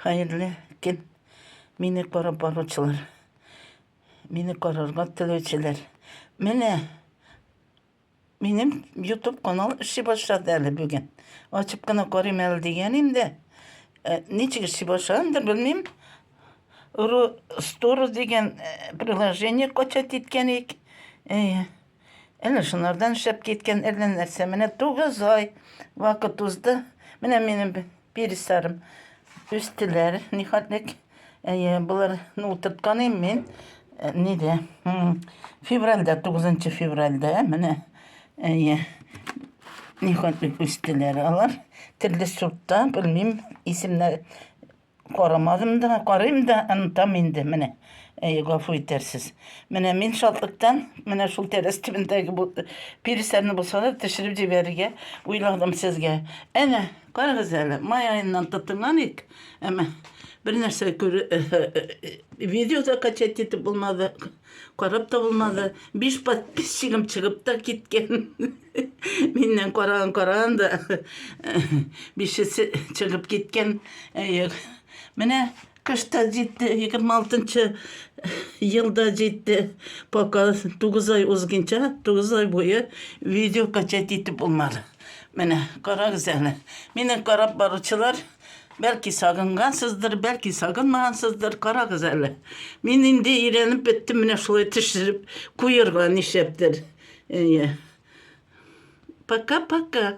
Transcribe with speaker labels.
Speaker 1: Хәерле көн, мине карап баручылар, мине карарга теләүчеләр. Менә минем YouTube канал эшли башлады әле бүген. Ачып кына карыйм әле дигән инде. Э, ничек эшли башлаган да белмим. Ру Store дигән э, приложение качать иткән ик. Э, Әнә шунардан шәп киткән әллә нәрсә. Менә тугыз ай вакыт узды. Менә минем пересарым үстеләр. Нихәтлек. Әйе, болар ну утырткан мин э, нидә? Февральдә, 9 февральдә менә әйе. Нихәтлек үстеләр алар. Төрле сортта, белмим, исемнәр Карамадым да, карыйм да, онытам инде, менә. Әй, гафу итәрсез. Менә мин шатлыктан, менә шул тәрәз төбендәге бу пирисләрне булса да төшереп җибәрергә уйладым сезгә. Әнә, карагыз әле, май аеннан тотынган ик, әмма бер нәрсә күр, видео да качать итеп булмады. Карап та булмады. Биш подписчигым чыгып та киткән. Миннән караган караган да бишесе чыгып киткән. Әйе. Менә кышта җитте, 26 елда җитте. Пока 9 ай узгынча, 9 ай буе видео качать итеп булмады. Менә карагыз әле. Мине карап баручылар Бәлки сагынгансыздыр, бәлки сагынмагансыздыр, карагыз әле. Мин инде өйрәнеп беттем, менә шулай төшереп куерга нишәптер. Әйе. Пока-пока.